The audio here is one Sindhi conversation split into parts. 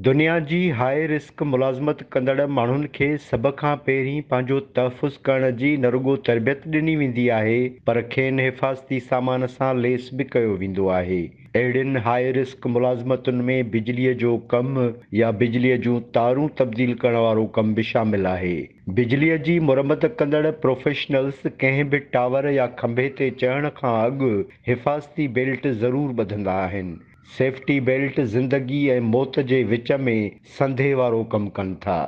دنيا جي هاء رسڪ ملازمت ڪندڙ ماڻهن کي سڀ کان پهرين پنهنجو تحفظ ڪرڻ جي نه رڳو تربيت ڏني ويندي آهي پر کين حفاظتي سامان سان ليس به ڪيو ويندو آهي. اهڙين هاء رسڪ ملازمتن ۾ بجليء جو ڪم يا بجليء جون تارون تبديل ڪرڻ وارو ڪم به شامل آهي. بجليء جي مرمت ڪندڙ پروفيشنلز ڪنهن به ٽاور يا کنڀي تي چڙهڻ کان اڳ حفاظتي بيلٽ ضرور ٻڌندا آهن. سيفٽي بيلٽ زندگي ۽ موت جي وچ ۾ سنڌي وارو ڪم ڪن ٿا.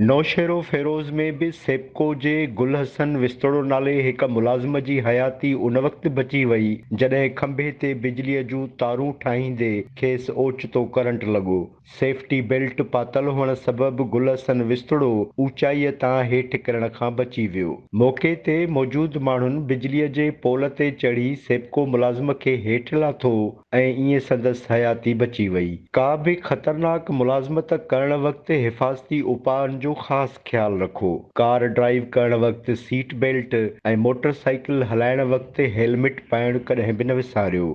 نوشهروفيروز ۾ به سيپڪو جي گل حسن وستوڙو نالي هڪ ملازم جي حياتي ان وقت بچي وئي جڏهن کنڀي تي بجلي جون تارون ٺاهيندي کيس اوچتو ڪرنٽ لڳو. سيفٽي بيلٽ پاتل هئڻ سبب گل حسن وستڙو اوچائيء تان هيٺ ڪرڻ کان بچي ويو. موقعي تي موجود ماڻهن بجليء جي پول تي چڙهي سيپڪو ملازم کي هيٺ لاٿو ۽ ائين سندس حياتي بچي وئي. ڪا به خطرناڪ ملازمت ڪرڻ وقت حفاظتي اپائن جو خاص خيال رکو. ڪار ڊرائيو ڪرڻ وقت سيٽ بيلٽ ۽ موٽر سائيڪل هلائڻ وقت هيلمٽ پائڻ ڪڏهن به نه وساريو.